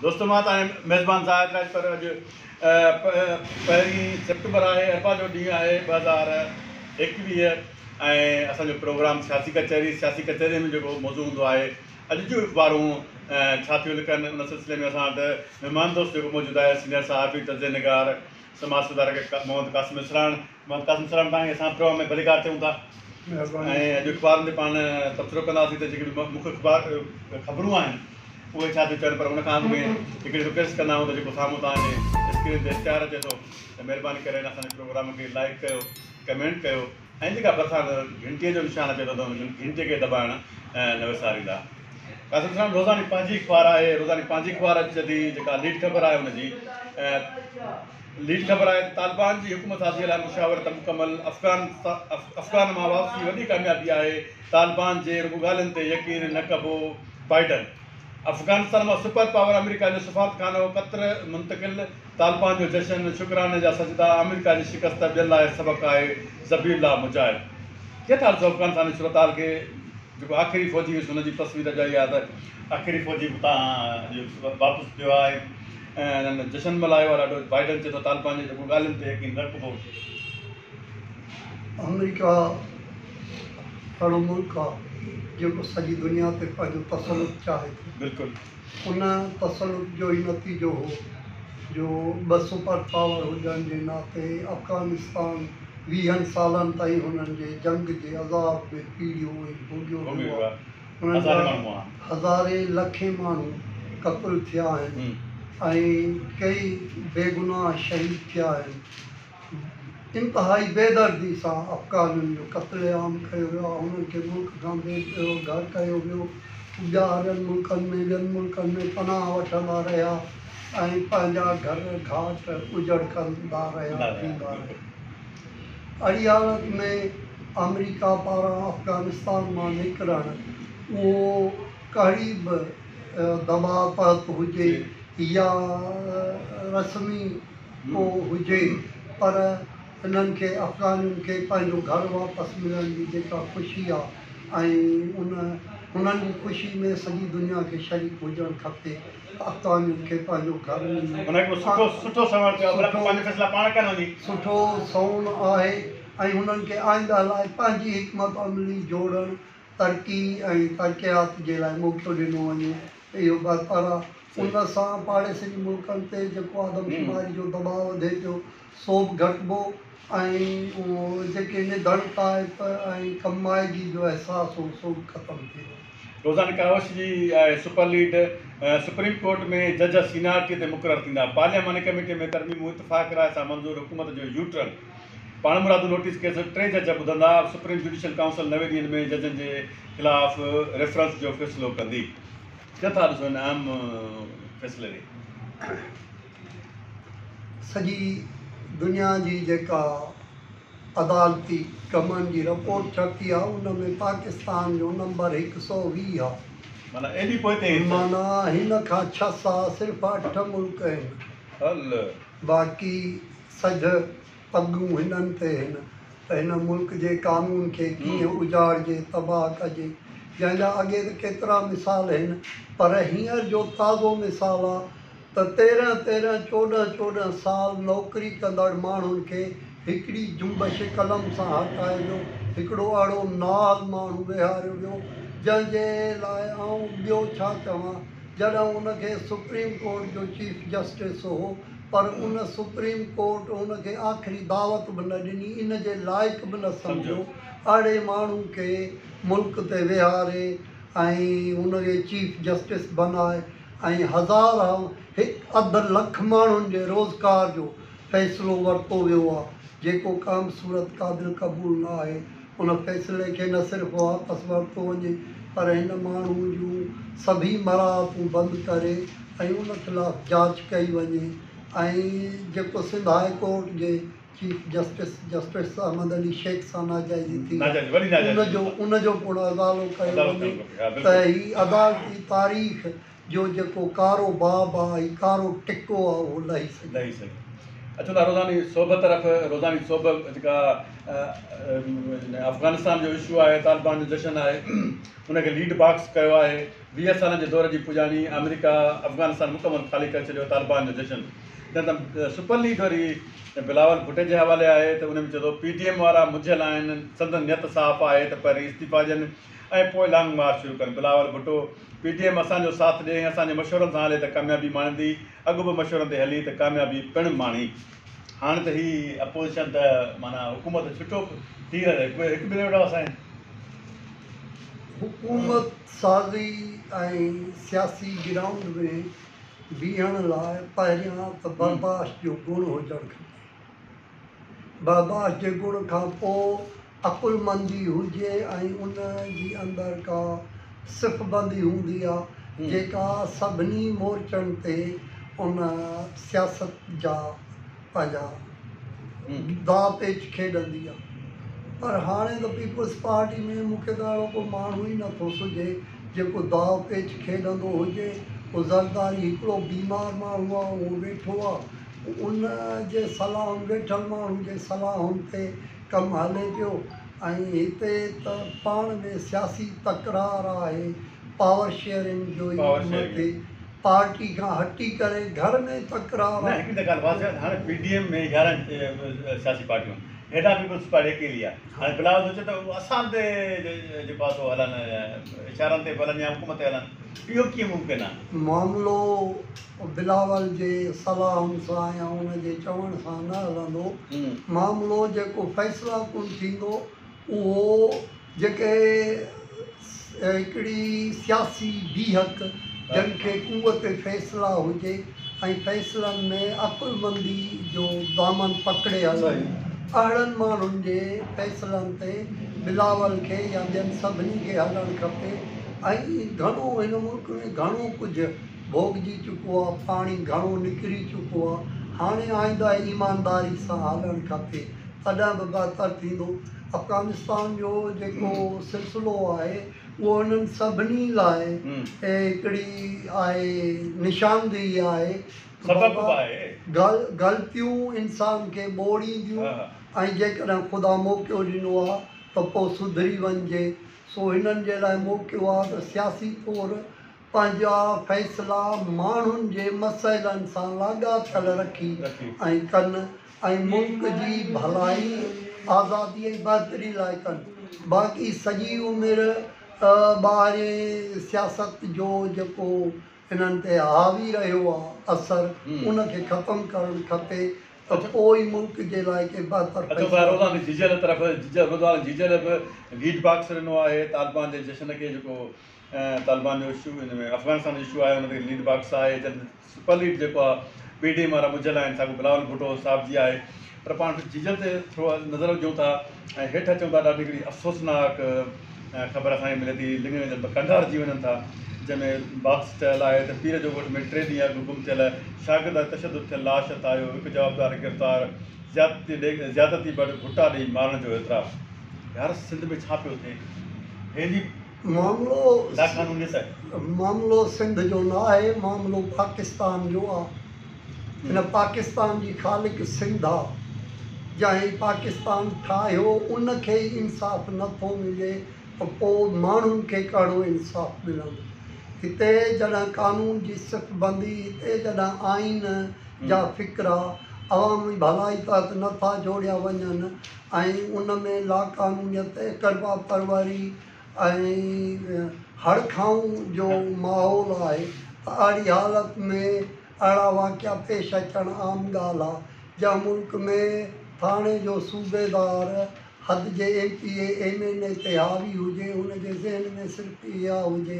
دوستو مان توهان جو ميزبان زاهد راڄپر اڄ پهرين سيپٽمبر آهي اربع جو ڏينهن آهي ٻه هزار ايڪويهه ۽ اسان جو پروگرام سياسي ڪچهري سياسي ڪچهري ۾ جيڪو موضوع هوندو آهي اڄ جون اخبارون ڇا ٿيون لکن ان سلسلي ۾ اسان وٽ مهمان دوست جيڪو موجود آهي سينئر صحافي تجزئي نگار سماج سڌارڪ محمد قاسم اسراڻ محمد قاسم السلام تان اسان پرو ۾ ڀليڪار چئون ٿا ۽ اڄ اخبارن تي پاڻ تبصرو ڪنداسين ته جيڪي به مک اخبار خبرون آهن اهي ڇا ٿيون چون پر ان کان اڳ ۾ هڪڙي رڪويسٽ ڪندا آهيون ته جيڪو سامهون توهان جي اسڪرين تي اشتهار اچي ٿو ته مهرباني ڪري ان اسان جي پروگرام کي لائيڪ ڪيو ڪمينٽ ڪيو ۽ جيڪا ڀرسان گهنٽي جو نشان اچي ٿو ته ان گهنٽي کي دٻائڻ نه وساريندا قاسم السلام روزاني پنهنجي اخبار آهي روزاني پنهنجي اخبار اچي ٿي جيڪا ليڊ خبر آهي ان جي ليڊ خبر آهي ته طالبان جي حڪومت سازيء لاء مشاورت مڪمل افغان افغان مان واپسي وڏي ڪاميابي آهي، طالبان جي رڳو ڳالهين تي يقين نه ڪبو، بائيڊن افغانستان مان سپر پاور آمريڪا جو سفارتخانو قطر منتقل، طالبان جو جشن، شڪراني جا سجدا، آمريڪا جي شڪست ٻين لاء سبق آهي، ذبيح الله مجاهد. ڪيئن ٿا ڏسو افغانستان جي صورتحال کي جيڪو آخري فوجي هيس هن جي تصوير اڄ آئي آهي ته آخري فوجي اتان واپس ٿيو آهي. ۽ انهن جشن ملهايو آهي ڏاڍو، بائيڊن چئي ٿو طالبان جي رڳو ڳالهين تي يقين رکبو. آمريڪا اهڙو ملڪ آ جيڪو سڄي دنيا تي پنهنجو تسلط چاهي ٿو. بلڪل. ان تسلط جو ئي نتيجو هو جو ٻه سپر پاور هجڻ جي ناتي افغانستان ويهن سالن تائين هنن جي جنگ جي عذاب ۾ پيڙهيو ۽ ڀوڳيو ويو آ. انهن جا هزارين لکين ماڻهو قتل ٿيا آهن ۽ ڪيئي بيگناهه شهيد ٿيا آهن. انتهائي بيدردي سان افغانن جو قتل عام ڪيو ويو آهي، انهن کي ملڪ کان بي گهر ڪيو ويو، هو ٻاهرين ملڪن ۾ ٻين ملڪن ۾ پناهه وٺندا رهيا ۽ پنهنجا گهر گهاٽ اجڙ ڪندا رهيا ٿيندا رهيا. اھڙي حالت ۾ آمريڪا پاران افغانستان مان نڪرڻ اھو ڪھڙي به دٻاء تحت ھجي يا رسمي ڪو ھجي پر ھنن کي افغانين کي پنھنجو گھر واپس ملڻ جي جيڪا خوشي آ ۽ ان ھنن جي خوشي ۾ سڄي دنيا کي شريڪ ھجڻ کپي. اڪانيم کي پنهنجو گهر مليو. هن هڪڙو سٺو سٺو سنوڻ ڪيو آهي بلڪ پنهنجا فيصلا پاڻ ڪن وڃي. سٺو سنوڻ آهي ۽ هنن کي آئنده لاء پنهنجي حڪمت عملي جوڙڻ، ترقي ۽ ترقيات جي لاء موقعو ڏنو وڃي ته اهو بهتر آهي. ان سان پاڙيسري ملڪن تي جيڪو آدمشماري جو دٻاء وڌي پيو، سو به گهٽبو ۽ جيڪي نڌڻ طائف ۽ ڪم مائگي جو احساس هو سو به ختم ٿي ويو. روزان ڪاوش جي آء سپر ليڊ سپريم ڪورٽ ۾ جج سينارٽي تي مقرر ٿيندا، پارلياماني ڪميٽي ۾ ترميمون اتفاق راء سان منظور، حڪومت جو يو ٽرن، پاڻمرادو نوٽيس ڪيس ٽي جج ٻڌندا، سپريم جوڊيشل ڪائونسل نوي ڏينهن ۾ ججن جي خلاف ريفرنس جو فيصلو ڪندي. ڪيئن ٿا ڏسو هن اهم فيصلي کي؟ سڄي دنيا جي جيڪا عدالتي ڪمن جي رپورٽ ڇپي آ ان ۾ پاڪستان جو نمبر هڪ سؤ ويهه آ. معنيٰ هن کان ڇهه سا صرف اٺ ملڪ هن باقي سجھ پڳون هنن تي هن ته هن ملڪ جي قانون کي ڪيئن اجاڙجي تباهه ڪجي جنهن جا اڳي ته ڪيترا مثال هن پر هينئر جو تازو مثال آ ته تيرنهن تيرنهن چوڏهن چوڏهن سال نوڪري ڪندڙ ماڻهن کي هڪڙي جنبش قلم سان هٽائي ويو، هڪڙو اهڙو نااهل ماڻهو ويهاريو ويو، جنهن جي لاء آئون ٻيو ڇا چوان، جڏهن ان کي سپريم ڪورٽ جو چيف جسٽس هو، پر ان سپريم ڪورٽ ان کي آخري دعوت به نه ڏني، ان جي لائق به نه سمجهيو، اهڙي ماڻهو کي ملڪ تي ويهاري ۽ ان کي چيف جسٽس بنائي، ۽ هزار هان هڪ اڌ لک ماڻهن جي روزگار جو فيصلو ورتو ويو آهي جيڪو ڪانه صورت قابل قبول نه آهي ان فيصلي کي نه صرف واپس ورتو وڃي پر هن ماڻهو جون سڀئي مراعتون بند ڪري ۽ ان خلاف جاچ ڪئي وڃي ۽ جيڪو سنڌ هاء ڪورٽ جي chief justice justice Ahmed Ali Shaikh سان ناجائزي ٿي ان جو ان جو پڻ ازالو ڪيو وڃي ته هي عدالتي تاريخ جو جيڪو ڪارو باب آ هي ڪارو ٽڪو آ اهو لهي سگهي. اچو ٿا روزاني سوڀ طرف روزاني سوڀ جيڪا افغانستان جو اشو آهي طالبان جو جشن آهي ان کي ليڊ باڪس ڪيو آهي ويهه سالن جي دور جي پڄاڻي آمريڪا افغانستان مڪمل خالي ڪري ڇڏيو طالبان جو جشن جڏهن ته سپر ليگ وري بلاول ڀٽي جي حوالي آهي ته ان ۾ چئي ٿو پي ڊي ايم وارا مجهيل آهن، سندن نيت صاف آهي ته پهرين استعيفا ڏين ۽ پوء لانگ مارچ شروع ڪن، Bilawal Bhutto, P D M اسان جو ساٿ ڏئي ۽ اسان جي مشورن سان هلي ته ڪاميابي ماڻيندي، اڳ به مشورن تي هلي ته ڪاميابي پڻ ماڻي. هاڻ ته هي اپوزيشن ته معنيٰ حڪومت ڇٽو ٿي رهي هڪ ٻئي کي وٺا وسائين. حڪومت سازي ۽ سياسي گرائونڊ ۾ بيهڻ لاء پهريان ته برداشت جو گڻ هجڻ کپي. برداشت جي گڻ کان پوء عقلمندي هجي ۽ ان جي اندر ڪا صفبندي هوندي آ جيڪا سڀني مورچن تي ان سياست جا پنهنجا داء پيچ کيڏندي آ پر هاڻي ته پيپلز پارٽي ۾ مون کي ته اهڙو ڪو ماڻهو ئي نه ٿو سجهي جيڪو داء پيچ کيڏندو هجي هو زرداري هڪڙو بيمار ماڻهو آ اهو ويٺو آ ان جي صلاحن ويٺل ماڻهو جي صلاحن تي ڪم هلي پيو ۽ هتي ته پاڻ ۾ سياسي تڪرار آهي پاور شيئرنگ جو ئي ڪم ٿي، پارٽي کان هٽي ڪري گهر ۾ تڪرار آهي. هڪ ڳالهه واضح آهي ته هاڻي پي ڊي ايم ۾ يارهن سياسي پارٽيون آهن، هيڏانهن پيپلز پارٽي اڪيلي آهي، هاڻي بلاول سوچي ته اسان تي جي پاسو هلن يا اشارن تي به هلن يا حڪم تي هلن، اهو ڪيئن ممڪن آهي؟ معاملو بلاول جي صلاحن سان يا ان جي چوڻ سان نه هلندو، معاملو جيڪو فيصلاڪن ٿيندو اهو. جيڪي هڪڙي سياسي بيهڪ جنھن کي قوت فيصله هجي ۽ فيصلن ۾ عقلمندي جو دامن پڪڙي هلن اهڙن ماڻهن جي فيصلن تي بلاول کي يا ٻين سڀني کي هلڻ کپي ۽ گهڻو هن ملڪ ۾ گهڻو ڪجهه ڀوڳجي چڪو آ پاڻي گهڻو نڪري چڪو آ هاڻي آئنده ايمانداري سان هلڻ کپي تڏهن به بهتر ٿيندو. افغانستان جو جيڪو سلسلو آهي اهو انهن سڀني لاء هڪڙي آهي نشاندهي آهي ته بابا غلطيون انسان کي ٻوڙينديون ۽ جيڪڏهن خدا موقعو ڏنو آهي ته پوء سڌري وڃجي سو هنن جي لاء موقعو آهي ته سياسي طور پنهنجا فيصلا ماڻهن جي مسئلن سان لاڳاپيل رکي ۽ ڪن ۽ ملڪ جي ڀلائي، آزادي ۽ بهتري لاء ڪن. باقي سڄي عمر ٻاهرين سياست جو جيڪو انهن تي حاوي رهيو آ اثر ان کي ختم ڪرڻ کپي ته پوء ئي ملڪ جي لاء ڪي بهتر فيصلا ٿيندا. ۽ طالبان جو اشو ان ۾ افغانستان جو اشو آهي ان تي ليڊ باڪس آهي جن سپر ليڊ جيڪو آهي پي ڊي ايم وارا ٻڌل آهن ساڳو بلاول ڀٽو صاحب جي آهي پر پاڻ ججن تي ٿورو نظر وجهون ٿا ۽ هيٺ اچون ٿا ڏاڍي هڪڙي افسوسناڪ خبر اسان کي ملي ٿي لڱين جن ۾ ڪنڊا رجي وڃن ٿا جنهن ۾ باڪس چيل آهي ته پير جو ڳوٺ ۾ ٽي ڏينهن اڳ گم ٿيل شاگرد تشدد ٿيل لاش هٿ آيو هڪ جوابدار گرفتار زيادتي ڏي زيادتي بڙ ڀٽا ڏئي مارڻ جو اعتراف يار سنڌ ۾ ڇا پيو ٿئي هينئر جي معاملو سنڌ جو نه آهي، معاملو پاڪستان جو آ. هن پاڪستان جي خالق سنڌ آ. جنهن هي پاڪستان ٺاهيو ان کي ئي انصاف نه ٿو ملي ته پو ماڻهن کي ڪهڙو انصاف ملندو. هتي جڏهن قانون جي صف بندي، هتي جڏهن آئين جا فقرا عوامي ڀلائي تحت نه ٿا جوڙيا وڃن، ۽ ان ۾ لاقانونيت، اقربا پروري ۽ هڙ کائون جو ماحول آهي ته اهڙي حالت ۾ اهڙا واقعا پيش اچڻ عام ڳالهه آهي. جنهن ملڪ ۾ ٿاڻي جو صوبيدار حد جي M P A, M N A تي حاوي هجي، ان جي ذهن ۾ صرف اها هجي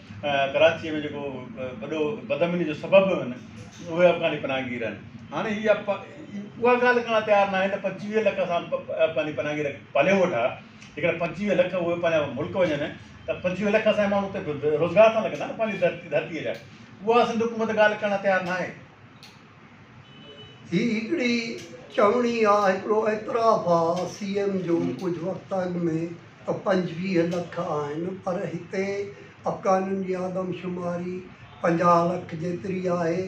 ڪراچيء ۾ جيڪو وڏو بدامنيء جو سبب به هن، اهي افغاني پناهگير آهن. هاڻي هي اها ڳالهه ڪرڻ لاء تيار ناهن ته پنجويهه لک اسان افغاني پناهگير پاليون ويٺا، جيڪڏهن پنجويهه لک اهي پنهنجا ملڪ وڃن ته پنجويهه لک اسان جا ماڻهو اتي روزگار سان لڳندا نه پنهنجي ڌرتيء جا. اها سنڌ حڪومت ڳالهه ڪرڻ لاء تيار ناهي. هي هڪڙي چوڻي آ هڪڙو اعتراف آ سي ايم جو ڪجهه وقت اڳ ۾ ته پنجويهه لک آهن پر هتي افغانين جي آدم شماري پنجاهه لک جيتري آهي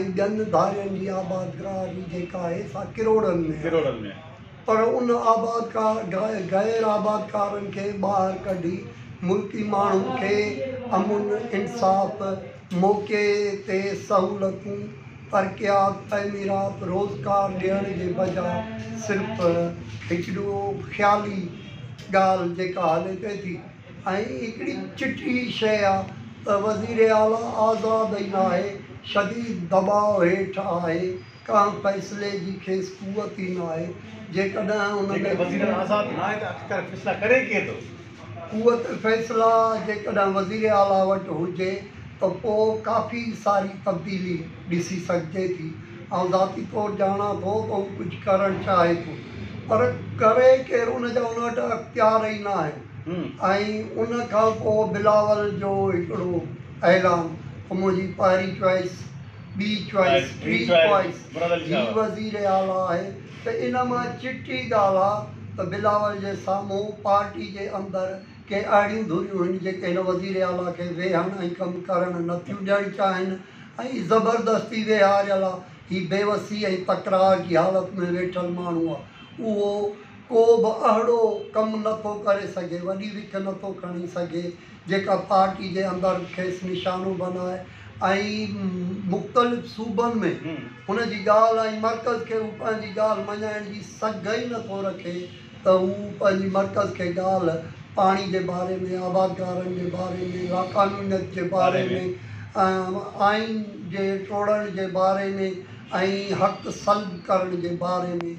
۽ ٻين ڌارين جي آبادگاري جيڪا آهي سا ڪروڙن ۾ آهي. پر ان آبادگار غير آبادگارن کي ٻاهر ڪڍي ملڪي ماڻهن کي امن، انصاف، موقعي تي سهولتون، ترقيات، تعميرات، روزگار ڏيڻ جي بجاء صرف هڪڙو خيالي ڳالهه جيڪا هلي پئي ٿي ۽ هڪڙي چٽي شيء آ ته وزيراعليٰ آزاد ئي ناهي، شديد دٻاء هيٺ آهي. ڪنهن فيصلي جي کيس قوت ئي نه آهي، جيڪڏهن ان ۾ قوت فيصلا جيڪڏهن وزير اعليٰ وٽ هجي ته پوء ڪافي ساري تبديلي ڏسي سگهجي ٿي. آئون ذاتي طور ڄاڻان ٿو ته هو ڪجهه ڪرڻ چاهي ٿو پر ڪري ڪير ان جا ان وٽ اختيار ئي نه آهن ۽ ان کانپوء بلاول جو هڪڙو اعلان ته منهنجي پهرين چوائس ٻي چوائيس، ٽي چوائيس، هي وزير اعليٰ آهي ته ان مان چٽي ڳالهه آ ته بلاول جي سامهون پارٽي جي اندر ڪي اهڙيون ڌريون هن جيڪي هن وزير اعليٰ کي ويهڻ ۽ ڪم ڪرڻ نه ٿيون ڏيڻ چاهين ۽ زبردستي ويهاريل آ هي بيوسي ۽ تڪرار جي حالت ۾ ويٺل ماڻهو آ اهو ڪو به اهڙو ڪم نه ٿو ڪري سگهي وڏي وک نه ٿو کڻي سگهي جيڪا پارٽي جي اندر کيس نشانو بنائي ۽ مختلف صوبن ۾ هن جي ڳالهه ۽ مرڪز کي هو پنهنجي ڳالهه مڃائڻ جي سگهه ئي نٿو رکي ته هو پنهنجي مرڪز کي ڳالهه پاڻي جي باري ۾ آبادگارن جي باري ۾ لاقانونيت جي باري ۾ آئين جي ٽوڙڻ جي باري ۾ ۽ حق سلب ڪرڻ جي باري ۾.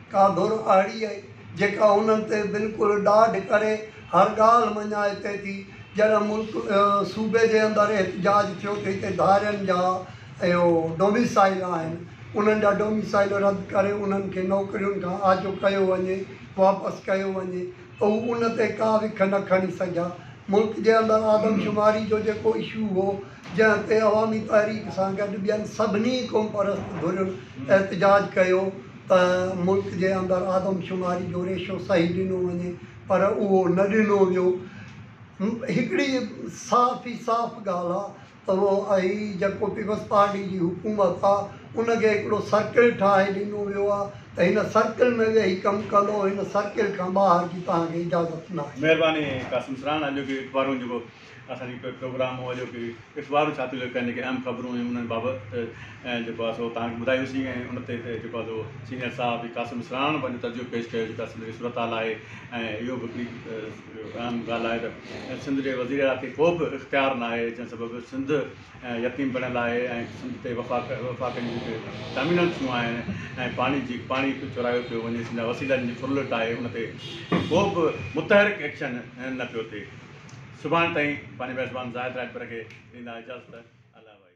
ڪا ڌر اهڙي آهي، جيڪا انهن تي بلڪل ڏاڍ ڪري هر ڳالهه مڃائي پئي ٿي. جڏهن ملڪ صوبي جي اندر احتجاج ٿيو ته هتي ڌارين جا اهو ڊوميسائيل آهن، انهن جا ڊوميسائيل رد ڪري انهن کي نوڪرين کان آجو ڪيو وڃي، واپس ڪيو وڃي ته هو ان تي ڪا وک نه کڻي سگهيا. ملڪ جي اندر آدمشماري جو جيڪو اشو هو، جنهن تي عوامي تحريڪ سان گڏ ٻين سڀني قومپرست ڌرين احتجاج ڪيو، ته ملڪ جي اندر آدمشماري جو ريشو صحيح ڏنو وڃي پر اهو نه ڏنو ويو. هڪڙي صاف ئي صاف ڳالهه آ ته اهي جيڪو پيپلز پارٽي جي حڪومت آ ان کي هڪڙو سرڪل ٺاهي ڏنو ويو آ ته هن سرڪل ۾ ويهي ڪم ڪندو هن سرڪل کان ٻاهر جي توهان کي اجازت ناهي. مهرباني قاسم سران اڄوڪي اخبارون جيڪو اسان جي پروگرام مون اڄوڪي اخبار ڇاپي لڳ ڪنهن کي اهم خبرون ۽ انهن بابت جيڪو آهي سو توهان کي ٻڌايوسين ۽ ان تي جيڪو آهي سو سينيئر صحافي قاسم اسراڻ پنهنجو تجزيو پيش ڪيو جيڪا سنڌ جي صورتحال آهي ۽ اهو به هڪڙي اهم ڳالهه آهي ته سنڌ جي وزير اعليٰ کي ڪو به اختيار نه آهي جنهن سبب سنڌ يتيم بڻيل آهي ۽ سنڌ تي وفاق وفاق جون جيڪي ٽرمينل ٿيون آهن ۽ پاڻي جي پاڻي چورايو پيو وڃي سنڌ جا وسيلا جن جي ڦرلٽ آهي ان تي ڪو به متحرڪ ايڪشن نه پيو ٿئي سڀاڻ تائين پنهنجي ميزبان زاهد راڄپر کي ڏيندا اجازت. الله وائي.